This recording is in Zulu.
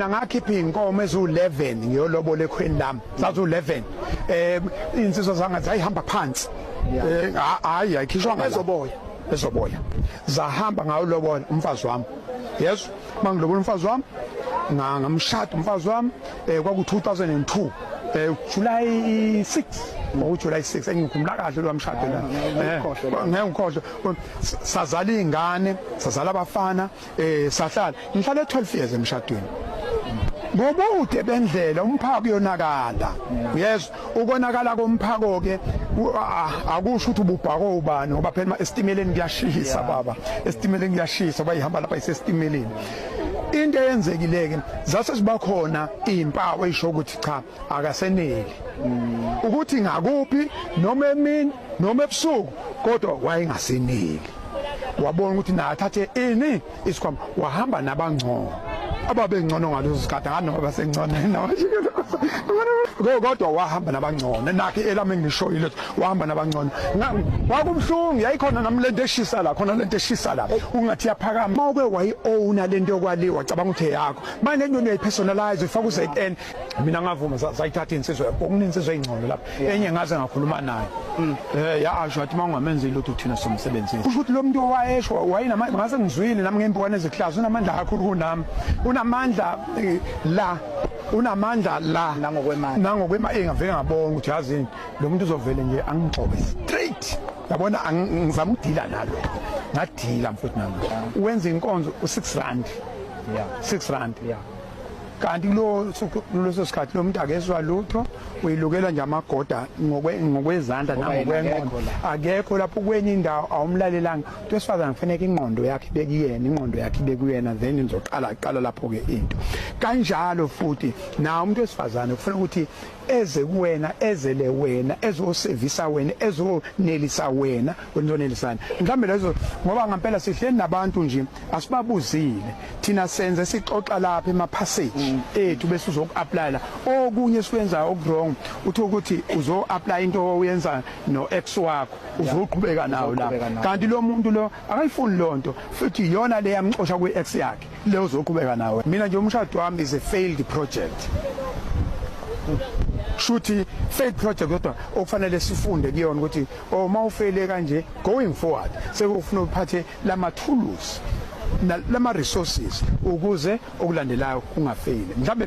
mina ngakhipha iy'nkomo eziwu-11 ngiyolobola ekhweni lami zaziwu-11 um iy'nsizwa zanga zayihamba phansi um hhayi ayikhishwanga ezoboya ezoboya zahamba ngawulobola umfazi wami yeso uma ngilobola umfazi wami ngamshada umfazi wami um kwaku-2002 um eh, July 6 ngoJuly 6 engikhumbula kahle lo mshado la eh, ngeke ngikhohlwe sazala izingane sazala abafana Eh sahlala ngihlale 12 years emshadweni. Ngobude bendlela umphako uyonakala. Yes, ukonakala komphako ke akusho ukuthi ububhako ubani ngoba phela esitimeleni kuyashisa baba. Esitimeleni kuyashisa bayihamba lapha isesitimeleni. into eyenzekileke zase zibakhona izimpawu ezisho ukuthi cha akaseneli ukuthi ngakuphi noma emini noma ebusuku kodwa wayengaseneli wabona ukuthi naye athathe ini isikhwama wahamba nabangcono ababengcono ngalezo zikhathi nganoma basengcono kodwa wahamba nabangcono nakhe elami engishoyile wahamba nabangcono kwakubuhlungu yayikhona nami lento eshisa la khona lento eshisa la ungathi yaphakama mawuke wayi-owna lento yokwaliwa cabanga ukuthi eyakho manje into uyayipersonalize uyifaka u-zn mina ngavuma zayithatha insizwa yakho kunensizwa eyingcono lapha enye ngaze ngakhuluma naye mm. eh yasho athi mangamenzi lutho thina somsebenzini kusho ukuthi lo muntu owayesho wayinama ngase ngizwile nami ngempukane ezihlazo unamandla kakhulu kunami unamandla eh, la unamandla la nangokwemali nangokwemali engavele eh, ngabona ukuthi yazini lo muntu uzovele nje angigxobe straight yabona ngizama ukudila nalo ngadila mfowethu nami wenza inkonzo u6 rand yeah 6 rand yeah kanti kuleso sikhathi lo muntu akezwa lutho uyilukela nje amagoda ngokwezandla nangokwenqondo akekho lapho kwenye indawo awumlalelanga umuntu wesifazane kufaneke ingqondo yakhe ibekuyena ingqondo yakhe ibekuyena then nizoqala qala lapho-ke into kanjalo futhi nawo umuntu wesifazane kufanele ukuthi eze kuwena ezele wena ezosevisa wena ezonelisa wena wenzonelisana mhlambe lezo ngoba ngempela sihleli nabantu nje asibabuzile thina senze sixoxa lapha ema passage mm. ethu bese uzokuapply la okunye sikwenza okwrong uthi ukuthi uzo apply into oyenza no ex wakho uzoqhubeka nawo la kanti lo muntu lo akayifuni lonto futhi yona le yamxosha kwi ex yakhe le uzoqhubeka nawe mina nje umshado wami is a failed project shuthi failed project kodwa okufanele sifunde kuyona ukuthi uma oh, ufele kanje going forward sekufuna uphathe lama tools lama resources ukuze okulandelayo kungafeli mhlambe